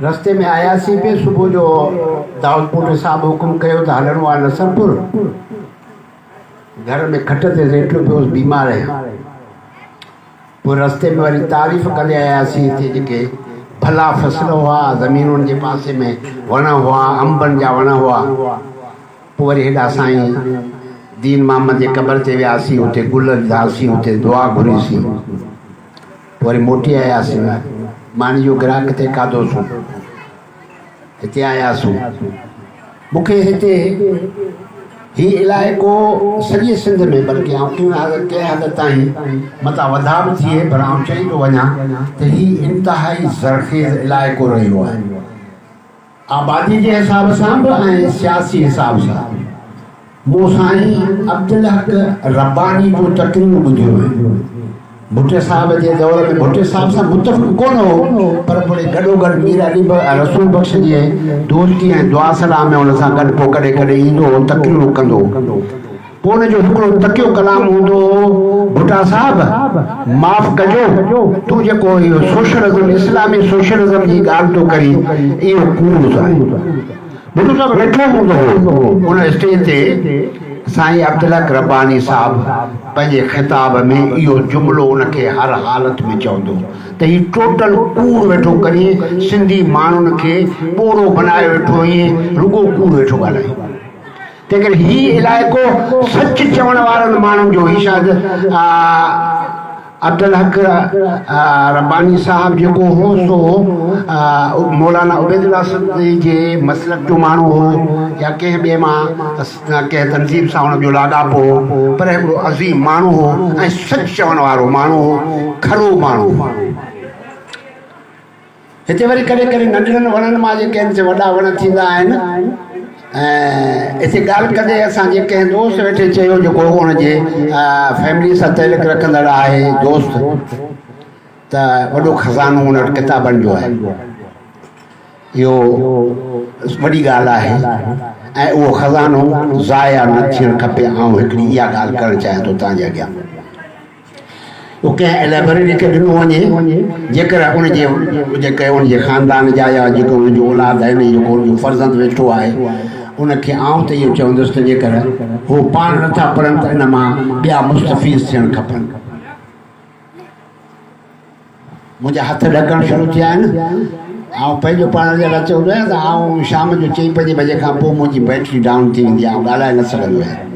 رستي ۾ آياسين پي صبح جو دائود پوٽي صاحب حڪم ڪيو ته هلڻو آهي نصرپور گهر ۾ کٽ تي ليٽيو پيو هوس بيمار آهيان پوء رستي ۾ وري تعريف ڪندي آياسين هتي جيڪي ڀلا فصل هئا زمينن جي پاسي ۾ وڻ هئا انبن جا وڻ هئا پوء وري هيڏا سائين دين محمد جي قبر تي وياسين هتي گل وڌاسين هتي دعا گهريسين وري موٽي آياسين. ماني جو گراهڪ ٿي کاڌوسون. هتي آياسون. مون کي هتي هي علائقو سڄي سنڌ ۾ بلڪه آئون ڪنهن حد ڪنهن حد تائين متان وڌاء به ٿئي پر آئون چئي ٿو وڃان ته هي انتهائي زرخيز علائقو رهيو آهي. آبادي جي حساب سان به ۽ سياسي حساب سان به مون سائين عبدالحق رباني جون تقريرون ٻڌيون آهن. ڀٽي صاحب جي دور ۾ ڀٽي صاحب سان متفق ڪونه هو پر پوڙي گڏوگڏ مير علي رسول بخش جي دورڪي ۽ دعا صلاح ۾ ان سان گڏ پوء ڪڏهن ڪڏهن ايندو هو تقريرون ڪندو هو. پوء ان جو هڪڙو تکيو ڪلام هوندو هو، ڀٽا صاحب! معاف ڪجو، تون جيڪو اهو سوشلزم، اسلامي سوشلزم جي ڳالهه ٿو ڪرين، اهو ڪوڙ ٿو آهي. ڀٽو صاحب ويٺو هوندو هو، ان اسٽيج تي سائين عبدالحق رباني صاحب پنهنجي خطاب ۾ اهو جملو ان کي هر حالت ۾ چوندو هو ته هي ٽوٽل ڪوڙ ويٺو ڪرين، سنڌي ماڻهن کي ٻورو بنائي ويٺو هين، رڳو ڪوڙ ويٺو ڳالهائين. جيڪڏهن هي علائقو سچ چوڻ وارن ماڻهن جو هي شايد عبدالحق رباني صاحب جيڪو هو سو مولانا عبيد الله سندي جي مسلڪ جو ماڻهو هو يا ڪنهن ٻئي مان ڪنهن تنظيم سان هن جو لاڳاپو هو پر هڪڙو عظيم ماڻهو هو ۽ سچ چوڻ وارو ماڻهو هو کرو ماڻهو هو هتي وري ڪڏهن ڪڏهن ننڍڙن وڻن مان جي ڪنهن تي وڏا وڻ ٿيندا آهن ۽ هتي ڳالهه ڪندي اسان جي ڪنهن دوست ويٺي چيو جيڪو هن جي فيملي سان تعلق رکندڙ آهي دوست ته وڏو خزانو هن وٽ ڪتابن جو آهي اهو وڏي ڳالهه آهي ۽ اهو خزانو ضايع نه ٿيڻ کپي آئون هڪڙي اها ڳالهه ڪرڻ چاهيان ٿو تنهنجي اڳيان هو ڪنهن اليبريٽري کي ڏنو وڃي، جيڪر ان جي جيڪي ان جي خاندان جا يا جيڪي ان جو اولاد آهن يا جيڪو ان جو فرزند ويٺو آهي، ان کي آئون ته اهو چوندس ته جيڪر هو پاڻ نه ٿا پڙهن ته ان مان ٻيا مستفيض ٿيڻ کپن. منهنجا هٿ ڏڪڻ شروع ٿي ويا آهن. آئون پنهنجو پاڻ جي لاء چئو نه ته آئون شام جو چئين پنجين بجي کان پوء منهنجي بيٽري ڊائون ٿي ويندي آهي، آئون ڳالهائي نه سگهندو آهيان.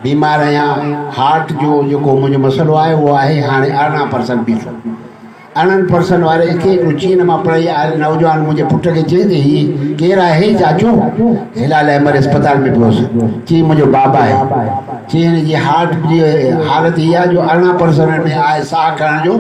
بيمار آهيان. هارٽ جو جيڪو منهنجو مسئلو آهي اهو آهي هاڻي ارڙهن پرسنٽ بي سو. ارڙهن پرسنٽ واري اکي هڪڙو چين مان پڙهي آيل نوجوان منهنجي پٽ کي چيائين ته هي ڪير آهي چاچو؟ هلال احمد اسپتال ۾ پيو هوس. چيائين منهنجو بابا آهي. چين جي هارٽ جي حالت هيء آهي جو ارڙهن پرسنٽ ۾ آهي ساهه کڻڻ جو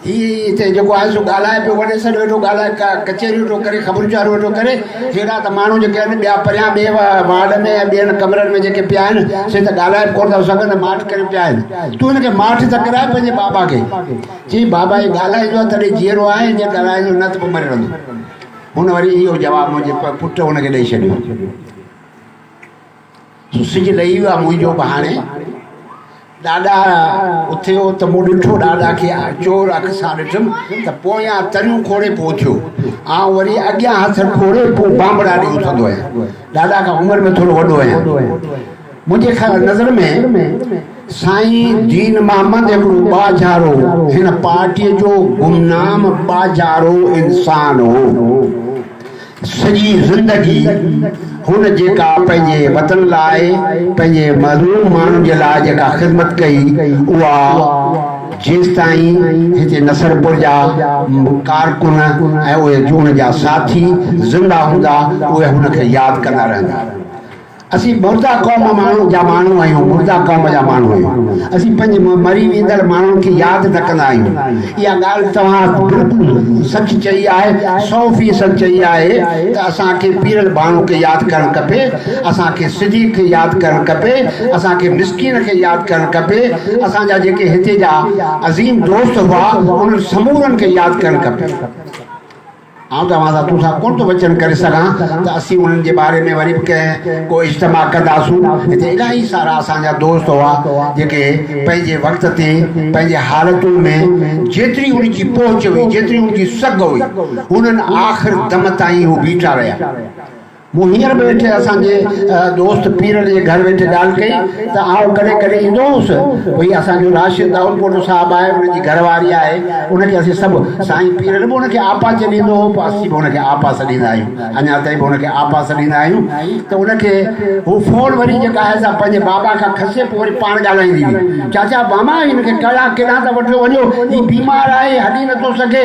هي هتي جيڪو آهي سو ڳالهائي پيو وڏي سڏ ويٺو ڳالهائي ڪچهريون ٿو ڪري خبرون چاريون ويٺو ڪري هيڏا ته ماڻهو جيڪي آهن ٻيا پريان ٻئي وارڊ ۾ ۽ ٻين ڪمرن ۾ جيڪي پيا آهن سي ته ڳالهائي به ڪونه ٿا سگهن ۽ ماٺ ڪري پيا آهن تون هن کي ماٺ ته ڪراء پنهنجي بابا کي چيائين بابا هي ڳالهائيندو آهي تڏهن جيئرو آهي جي ڳالهائيندو نه ته پوء مري رهندو هن وري اهو جواب منهنجي پٽ هن کي ڏئي ڇڏيو جو سج لهي ويو آ منهنجو ڀاڻي. ڏاڏا اٿيو ته مون ڏٺو ڏاڏا کي چور اک سان ڏٺم ته پويان تريون کوڙي پوء اٿيو. آئون وري اڳيان هٿ کوڙي پوء بانبڙا ڏي اٿندو آهيان. ڏاڏا کان عمر ۾ ٿورو وڏو آهيان. منهنجي خيال نظر ۾ سائين دين محمد هڪڙو ٻاجهارو، هن پارٽيء جو گمنام ٻاجهارو انسان هو. سڄي زندگي هن جيڪا پنهنجي وطن لاء پنهنجي مظلوم ماڻهن جي لاء جيڪا خدمت ڪئي اها جيستائين هتي نصرپور جا ڪارڪن ۽ اهي جون جا ساٿي زنده هوندا اهي هن کي ياد ڪندا رهندا. اسين مرده قوم ماڻهن جا ماڻهو آهيون، مرده قوم جا ماڻهو آهيون. اسين پنهنجي مري ويندڙ ماڻهن کي ياد نه ڪندا آهيون. اها ڳالهه توهان بلڪل سچ چئي آهي، سؤ فيصد چئي آهي ته اسان کي پيرل ڀاڻو کي ياد ڪرڻ کپي، اسان کي صديق کي ياد ڪرڻ کپي، اسان کي مسڪين کي ياد ڪرڻ کپي، اسان جا جيڪي هتي جا عظيم دوست هئا، انهن سمورن کي ياد ڪرڻ کپي. آئون توهان سان تون سان ڪونه ٿو وچن ڪري سگهان ته اسين انهن جي باري ۾ وري به ڪنهن ڪو اجتماع ڪنداسون. هتي الاهي سارا اسان جا دوست هئا، جيڪي پنهنجي وقت تي پنهنجي حالتون ۾ جيتري هن جي پهچ هئي، جيتري هن جي سگهه هئي، هنن آخر دم تائين اهو بيٺا رهيا. مون هينئر به ايٺي اسان جي دوست پيرڙ جي گهر ويٺي ڳالهه ڪئي ته آئون ڪڏهن ڪڏهن ايندو هوس. هي اسان جو راشد دائودپورو صاحب آهي، ان جي گهر واري آهي. ان کي اسين سڀ سائين پيرڙ به ان کي آپا چنيندو هو، پوء اسين به ان کي آپا سڏيندا آهيون. اڃا تائين به ان کي آپا سڏيندا آهيون ته ان کي هو فون وري جيڪا آهي سا پنهنجي بابا کان کسي پوء وري پاڻ ڳالهائيندي هئي. چاچا، ماما هن کي ڪهڙا ڪيڏانهن ته وٺيو وڃو، هي بيمار آهي، هلي نٿو سگهي.